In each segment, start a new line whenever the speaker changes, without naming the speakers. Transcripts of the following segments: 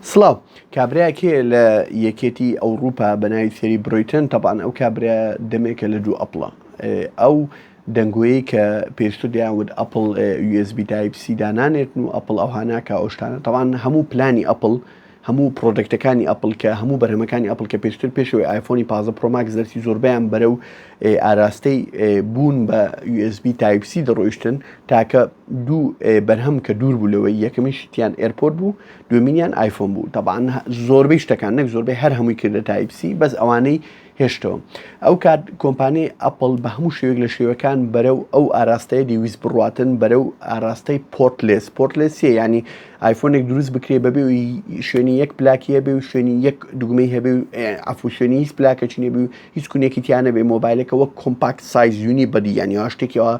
سڵاو کابرایەک هەیە لە یەکێتی ئەوروپا بەناوی سێری برۆیتن تەبان ئەو کابرا دەمێکە لە دوو ئەپڵە ئەو دەنگۆیەی کە پێشتر دەیانوت ئەپل USB تایپ سی دانانێتن و ئەپل ئەو هاناکە ئەوشتانە تەوان هەموو پلانی ئەپل هەموو پرۆدکتەکانی ئەپل کە هەموو بەرهەمەکانی ئەپل کە پێشتر پێشەوەی ئایفۆنی پازە پرۆماکس دەرسی زۆربیان بەرە و ئاراستەی بوون بە USB تایپ سی دەڕۆیشتن تاکە دوو بەرهەم کە دوور بوو لەوەی یەکەمیشی تیان ئێرپۆرت بوو دومینیان آیفۆن بوو تەبان زۆربەی شتەکان نەک زۆربەی هەر هەمووی کردە تایپ سی بەس ئەوانەی هێشتەوە ئەو کات کۆمپانی ئەپل بە هەموو شێوێک لە شێوەکان بەرە و ئەو ئاراستەیە دیویست بڕاتن بەرە و ئاراستەی پۆرتلێس پۆرتلێسیە ینی ئایفۆنێک دروست بکرێ بەبێ شوێنی یەک پلاکیە بێ و شوێنی یەک دوگمەی هەبێ عفو شوێنی هیچ پلاکەچینێ بێ هیچ کونێکی تیا نەبێ مۆبایلەکە وەک کۆمپاکت سایز یونی بەدی یانی وا شتێکەوە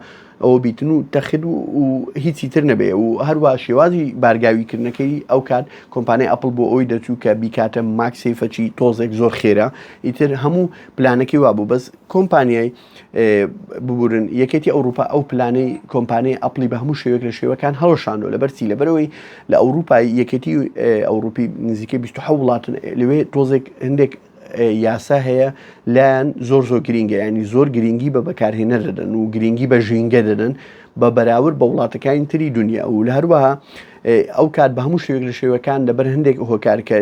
ئەوە بیتن و تەخت و هیچی تر نەبێ و هەروە شێوازی بارگاویکردنەکەی ئەو کات کۆمپانای ئەپل بۆ ئەوی دەچوو کە بیکاتە ماکسیفەچی تۆزێک زۆر خێرە ئیتر هەموو پلانەکەی وابوو بەس کۆمپانیای ببورن یەکێتی ئەوروپا ئەو پلانەی کۆمپانیای ئەپلی بە هەموو شێوێک لە شێوەکان هەڵشانەوە لە بەرچی لەبەرەوەی لە ئەوروپای یەکێتی ئەوروپی نزیکەی 20 وڵاتن لەوێ تۆزێک هەندێک یاسا هەیە لایەن زۆر زۆر گرینگە ینی زۆر گرنگی بە بەکارهێنە دەدەن و گرنگی بە ژینگە دەدەن بە بەراورد بە وڵاتەکانی تری دنیا و لە هەروەها ئەو کات بە هەموو شێوێک لە شێوەکان لەبەر هەندێک هۆکارکە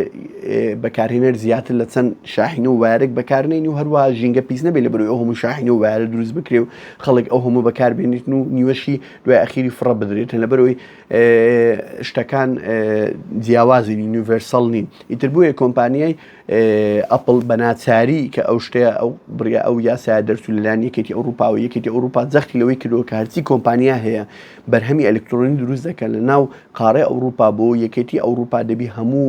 بەکارهێنەر زیاتر لە چەند شاحین و وارێک بەکارنین و هەروە ژینگە پیس نەبێت لە بەرەوە هەموو شاحین و وارە دروست بکرێ و خەڵک ئەو هەموو بەکاربێنیتن و نیوەشی دوای ئەخیری فڕە بدرێتن لە بەرەوەی شتەکان جیاوازی یونیڤەرسەڵ نین ئیتر بۆیە کۆمپانیای ئەپڵ بە ناچاری کە ئەو شتەیە ئەو بڕیا ئەو یاسایە دەرچوو لەلایەن یەکێتی ئەوروپا و یەکێتی ئەوروپا جەختی لەوەی کردەوە کە هەرچی کۆمپانیا هەیە بەرهەمی ئەلکترۆنی دروست دەکەن لە ناو قاڕێ ئەوروپا بۆ یەکێتی ئەوروپا دەبی هەموو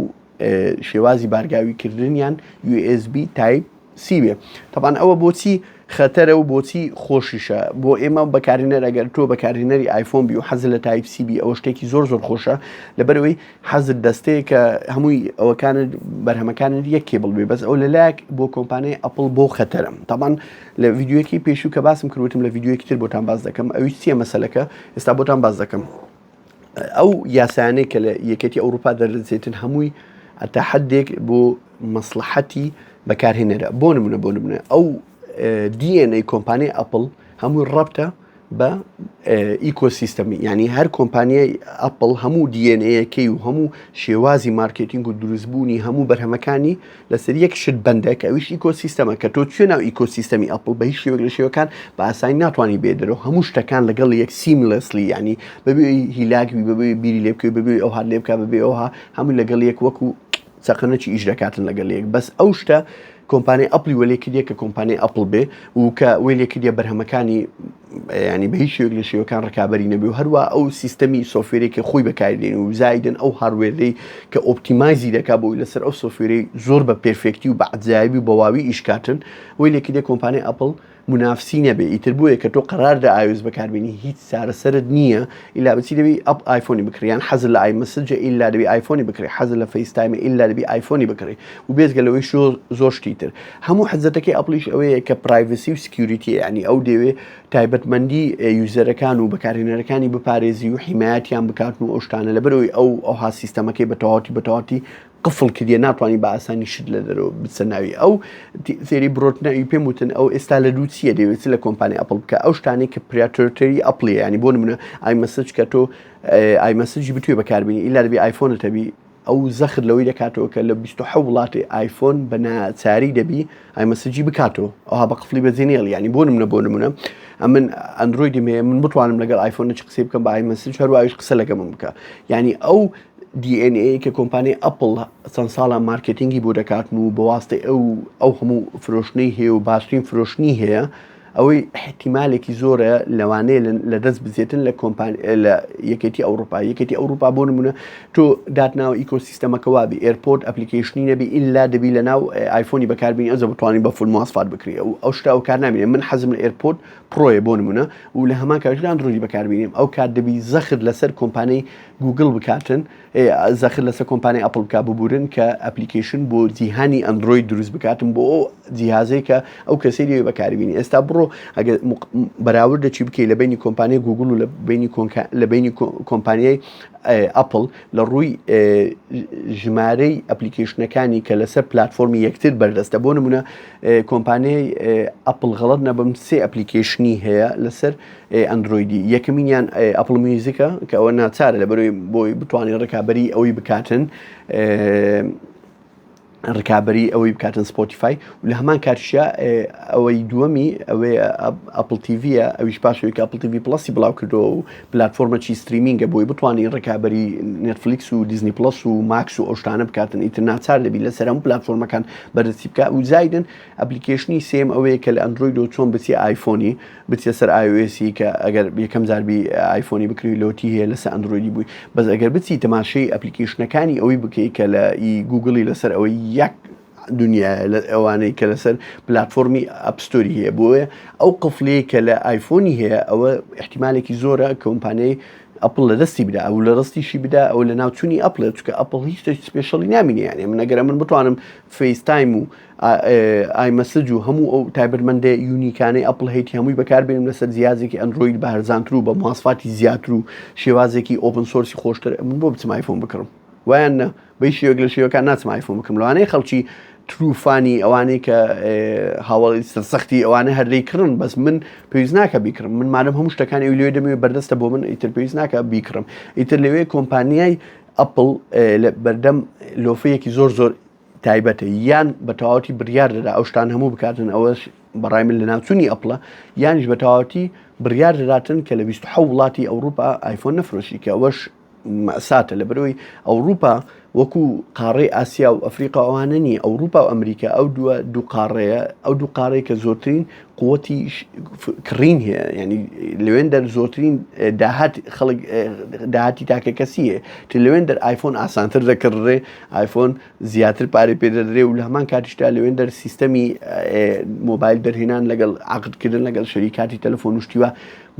شێوازی بارگاویکردنیان USB تایپ سیوێ تەبان ئەوە بۆچی خەتەرە و بۆچی خۆشیشە بۆ ئێمە بەکارهێنەر ئەگەر تۆ بەکارهێنەری ئایفۆن بی و حەز لە تایپ سی بی ئەوە شتێکی زۆر زۆر خۆشە لەبەرەوەی حەزت دەستەیە کە هەمووی ئەوەکانت بەرهەمەکانت یەک کێبڵ بێ بەس ئەو لە لایەک بۆ کۆمپانیای ئەپل بۆ خەتەرم تاوان لە یددیوەکی پێشوو کە باسم کروتم لە یددیوەکی تر بۆتان باز دەکەم ئەوی چیە مەسلەکە ئێستا بۆتان باز دەکەم. ئەو یاسایانەی کە لە یەکێتی ئەوروپا دەردەچێتن هەمووی ئەتا حدێک بۆ مەسلحەتی بەکارهێنەرە بۆ نمونە بۆ نمونە ئەو DNA کۆمپانیای ئەپل هەمووی ڕەبتە بە ئیکۆسیستەمی ینی هەر کۆمپانیای ئەپل هەموو DNA یەکەی و هەموو شێوازی مارکتینگ و دروستبوونی هەموو بەرهەمەکانی لەسەر یەک شت بەندە کە ئەویش ئیکۆسیستەمە کە تۆ توێ ناو ئیکۆسیستەمی ئەپل بە هیچ شێوەک لە شێوەکان بە ئاسانی ناتوانانی بێدەرەوە هەموو شتەکان لەگەڵ یەک سیملسلی ینی بەبێ هیلاکبی بەبێ بیری لێ بکەوی بەبێ ئەو هاات لێ بکە بەبێ ئەوها هەموو لەگەڵ یەک وەکو چەقەنەکی ئیش دەکاتن لەگەڵ یەک بەس ئەو شتە کۆمپانی ئەپلی وەلێ کردە کە کۆمپانی ئەپل بێ و کە وێ لێ کردە بەرهەمەکانی یانی بە هیچ شێوەیەک لە شێوەکان ڕکابەری نەبێ و هەروە ئەو سیستەمی سۆفێرێکی خۆی بەکاردێن و زایدن ئەو هاروێری کە ئۆپتیمایزی دەکا بۆی لەسەر ئەو سۆفێری زۆر بە پێرفێکتی و بە عجایبی و بەواوی ئیشکاتن وی لێکی دێ کۆمپانیای ئەپل منافسی نەبێ ئیتر بۆیە کە تۆ قەرار دە ئاوێز بەکاربیێنی هیچ سارەسەرت نییە ئیلا بچی دەبی ئەپ ئایفۆنی بکریان حەز لە ئای مسجە ئیلا دەبی ئایفۆنی بکری حەز لە فەیستایمە ئیلا دەبی ئایفۆنی بکری و بێزگە لەوەی شۆ زۆر شتی تر هەموو حەزەتەکەی ئەپڵیش ئەوەیە کە پرایڤسی و سکیوریتی یعنی ئەو دەوێ تایبەتمەندی یوزەرەکان و بەکارهێنەرەکانی بپارێزی و حیمایەتیان بکاتن و ئەو شتانە لە بەرەوەی ئەو ئەوها سیستەمەکەی بە تەواتی بە تەواتی قفل کردە ناتوانانی بە ئاسانی شت لە دەرەوە بچە ناوی ئەو فێری برۆتنەوی پێم وتن ئەو ئێستا لە دووچیە دەوێت لە کۆمپانی ئەپل بکە ئەو شتانی کە پراتۆرتەری ئەپلی ینی بۆ منە ئای مەسج کە تۆ ئای مەسجی بتوێ بەکاربیین ئیلا دەبی ئایفۆنەتەبی ئەو زەخت لەوەی دەکاتەوە کە لە بیست و حەوت وڵاتی ئایفۆن بە ناچاری دەبی ئایمەسجی بکاتەوە ئەوها بە قفڵی بەجێ نێڵی یانی بۆ نمونە بۆ نمونە ئەمن ئەندرۆیدیم هەیە من بتوانم لەگەڵ ئایفۆن چ قسەی بکەم بە ئایمەسج هەروایش قسە لەگە من بکە یعنی ئەو DNA کە کۆمپانی ئەپل چەند ساڵە مارکتینگی بۆ دەکاتن و بەواستەی ئەو ئەو هەموو فرۆشتنی هەیە و باشترین فرۆشتنی هەیە ئەوەی ئیحتیمالێکی زۆرە لەوانەیە لە دەست بزێتن لە کۆمپان لە یەکێتی ئەوروپا یەکێتی ئەوروپا بۆ نمونە تۆ داتناوە ئیکۆسیستەمەکە وابی ئێرپۆرت ئەپلیکیشنی نەبی ئللا دەبی لە ناو ئایفۆنی بەکاربیین ئەزە بتوانین بە فول موواسفات بکری ئەو ئەو شتا ئەو کار نامێنێ من حەزم لە ئێرپۆرت پرۆیە بۆ نمونە و لە هەمان کاژران درۆی بەکاربیینم ئەو کات دەبی زەخت لەسەر کۆمپانیای گوگل بکاتن و زەخت لەسەر کۆمپانیای ئەپڵ بکە ببورن کە ئەپلیکیشن بۆ جیهانی ئەندرۆید دروست بکاتم بۆ ئەو جیهازەی کە ئەو کەسی لێ بەکاربیین ئێستا بڕۆ ئەگەر بەراورد دەچی بکەی لە بینی کۆمپانیای گوگل و لە بینی لە بینی کۆمپانیای ئەپل لە ڕووی ژمارەی ئەپلیکیشنەکانی کە لەسەر پلتفۆرمی یەکتر بەردەستە بۆ نمونە کۆمپانیای ئەپل غەڵت نەبم سێ ئەپلیکیشنی هەیە لەسەر ئەندرۆیدی یەکەمینیان ئەپڵ میوزیکە کە ئەوە ناچارە لە بەروی بۆی بتوانین ڕکابی ئەوەی بکاتن ڕکابی ئەوەی بکاتن سپۆتیفای و لە هەمان کاتشە ئەوەی دووەمی ئەوەی ئەپل تیڤە ئەویش پاشەوەی ئەپل تیوی پلسی بڵاو کردەوە و پلتفۆرمەچی ستریمینگە بۆی بتوانین ڕکابی نێتفلیکس و دیزنی پلس و ماکس و ئەوشتانە بکاتن ئیتر ناچار دەبی لە سەرم پلتفۆرمەکان بەرزی بکە و زایدن ئەپلیکیشنی سێم ئەوەیە کە لە ئەندروید و چۆن بچی ئایفۆنی بچیە سەر iOS ی کە ئەگەر یەکەم جار بی ئایفۆنی بکری لۆتی هەیە لەسە ئەندرۆیدی بووی بەس ئەگەر بچی تەماشەی ئەپلیکیشنەکانی ئەوەی بکەی کە لە ئی گوگڵی لەسەر ئەوەی یەک دنیا لە ئەوانەی کە لەسەر پلتفۆرمی ئەپستۆری هەیە بۆیە ئەو قفلەیە کە لە ئایفۆنی هەیە ئەوە احتیمالێکی زۆرە کۆمپانیای ئەپل لە دەستی بدا ئەو لە ڕستیشی بدا ئەو لە ناوچووی ئەپلێت چکە ئەپل هیچ سپێشەڵی نامینیانێ من نەگەرە من بتوانم فەیستایم و ئای مەسج و هەموو ئەو تایبەتمەندێ یونیکانەی ئەپڵ هەیتی هەمووی بەکاربێنم لەسەر جیازێکی ئەندروید بە هەرزانتر و بە ماسفاتی زیاتر و شێوازێکی ئۆپن سۆرسی خۆشتر من بۆ بچم ئایفۆن بکڕم وایان نە بەی شێوەک لە شێوەکان ناچم ئایفۆن بکەم لەوانەیە خەڵکی تروفانی ئەوانەی کە هاوڵی سەختی ئەوانە هەردەی کڕن بەس من پێویست ناکە بیکڕم من مادەم هەموو شتەکانی ئەو لێ دەمێ بەردەستە بۆ من ئیتر پێویست ناکە بیکڕم ئیتر لەوێ کۆمپانیای ئەپل بەردەم لۆفەیەکی زۆر زۆر تایبەتە یان بە تەواوەتی بڕیار دەدا ئەو شتان هەموو بکاتن ئەوەش بەڕای من لە ناوچوونی ئەپڵە یانیش بە تەواوەتی بڕیار دەداتن کە لە 26 وڵاتی ئەوروپا ئایفۆن نەفرۆشی کە ئەوەش مەساتە لە برۆی ئەوروپا وەکو قاڕی ئاسیا و ئەفریقا ئەوانە نیە ئەوروپا و ئەمریکا ئەو دووە دوو قاڕەیە ئەو دوو قارەی کە زۆرترین قوتی کڕین هەیە ینی لەوێن دەر زۆرترین داهات خەڵک داهاتی تاکە کەسیە ت لەوێن دەر ئایفۆن ئاسانتر دەکڕێ ئایفۆن زیاتر پارەی پێ دەدرێ و لە هەمان کاتیشتا لەوێن دەر سیستەمی مۆبایل دەرهێنان لەگەڵ عقدکردن لەگەڵ شەریکاتی تەلەفۆن شتیوە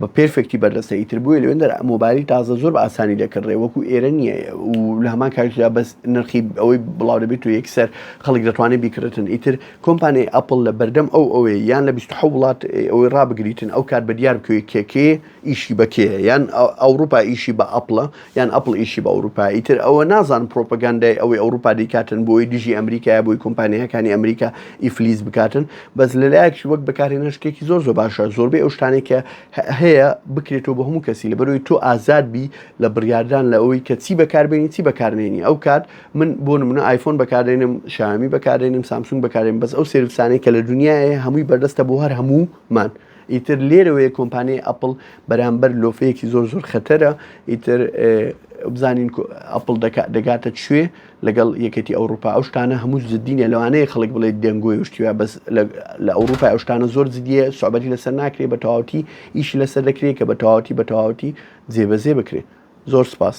بە پێرفێکتی بەردەستە ئیتر بۆیە لەوێن دەر مۆبایلی تازە زۆر بە ئاسانی دەکڕێ وەکو ئێرە نییە و لە هەمان کاریدا بەس نرخی ئەوەی بڵاو دەبێت و یەکسەر خەڵک دەتوانێت بیکرێتن ئیتر کۆمپانی ئەپل لە بەردەم ئەو ئەوەیە یان لە 20 وڵات ئەوەی ڕابگریتن ئەو کات بە دیار بکەوێت کێکێ ئیشی بەکێ یان ئەوروپا ئیشی بە ئەپلە یان ئەپڵ ئیشی بە ئەوروپا ئیتر ئەوە نازانم پرۆپەگاندای ئەوەی ئەوروپا دەیکاتن بۆی دژی ئەمریکایە بۆی کۆمپانیاکانی ئەمریکا ئیفلیس بکاتن بەس لەلایەکش وەک بەکارهێنەر شتێکی زۆر زۆر باشە زۆربەی ئەو شتانەی کە هەیە بکرێتەوە بە هەموو کەسی لەبەرەوەی تۆ ئازاد بی لە بڕیاردان لە ئەوەی کە چی بەکاربێنی چی بەکارنێنی ئەو کات من بۆ نمونە ئایفۆن بەکارێنم شامی بەکارێنم سامسونگ بەکارێن بەس ئەو سرویسانەی کە لە دنیاە هەمووی بەردەستە بۆ هەر هەموومان ئیتر لێرەوەیە کۆمپانیای ئەپڵ بەرامبەر لۆفەیەکی زۆر زۆر خەتەرە ئیتر بزانین ئەپل دەگاتە کوێ لەگەڵ یەکەتی ئەوروپا ئەو شتانە هەموو زدینە لەوانەیە خەڵک بڵێت دەنگۆی شتیە بەس لە ئەوروپا ئەو شتانە زۆر زدیە سوعبەتی لەسەر ناکرێت بە تەواوتی ئیشی لەسەر دەکرێت کە بە تەواوتی بە تەواوتی جێبەزێ بکرێت زۆر سپاس.